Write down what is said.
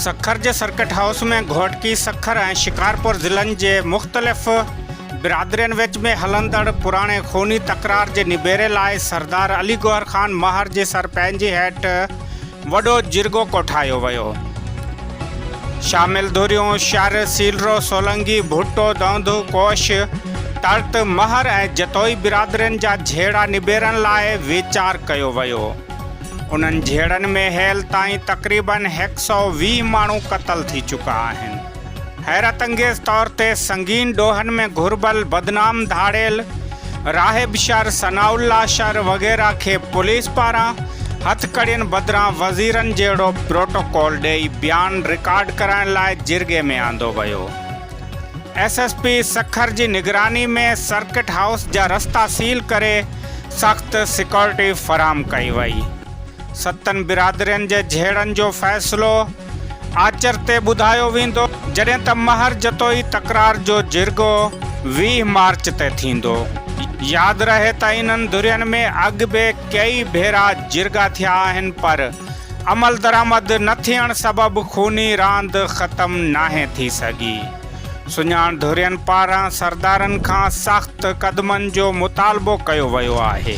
سکر جي circuit house ۾ Ghotki Sukkur ۽ Shikarpur ضلعن جي مختلف برادرين وچ ۾ هلندڙ پراڻي خوني تڪرار جي نبيري لاء سردار علي گوهر خان ماهر جي سر پنهنجي هيٺ وڏو جرڳو ڪوٺايو ويو. شامل ڌريون شر، سيلرو، سولنگي، ڀٽو، دؤندو، ڪوش، ترت، مهر ۽ جتوئي برادرين جا جهيڙا نبيرڻ لاء ويچار ڪيو ويو. انهن جهيڙن ۾ هيل تائين تقريباً هيڪ سئو ويهه ماڻهو قتل ٿي چڪا آهن. حيرت انگيز طور تي سنگين ڏوهن ۾ گهربل بدنام ڌاڙيل راهب شر، ثناء الله شر وغيره کي پوليس پاران هٿڪڙين بدران وزيرن جهڙو پروٽوڪول ڏئي بيان رڪارڊ ڪرائڻ لاء جرڳي ۾ آندو ويو. ايس ايس پي سکر جي نگراني ۾ سرڪٽ هائوس جا رستا سيل ڪري سخت سيڪورٽي فراهم ڪئي وئي. ستن برادرين جي جهيڙن جو فيصلو آچر تي ٻڌايو ويندو، جڏهن ته مهر جتوئي تڪرار جو جرڳو ويهه مارچ تي ٿيندو. ياد رهي ته انهن ڌرين ۾ اڳ به ڪيئي ڀيرا جرڳا ٿيا آهن پر عملدرآمد نه ٿيڻ سبب خوني راند ختم ناهي ٿي سگهي. سڃاڻ ڌرين پاران سردارن کان سخت قدمن جو مطالبو ڪيو ويو آهي.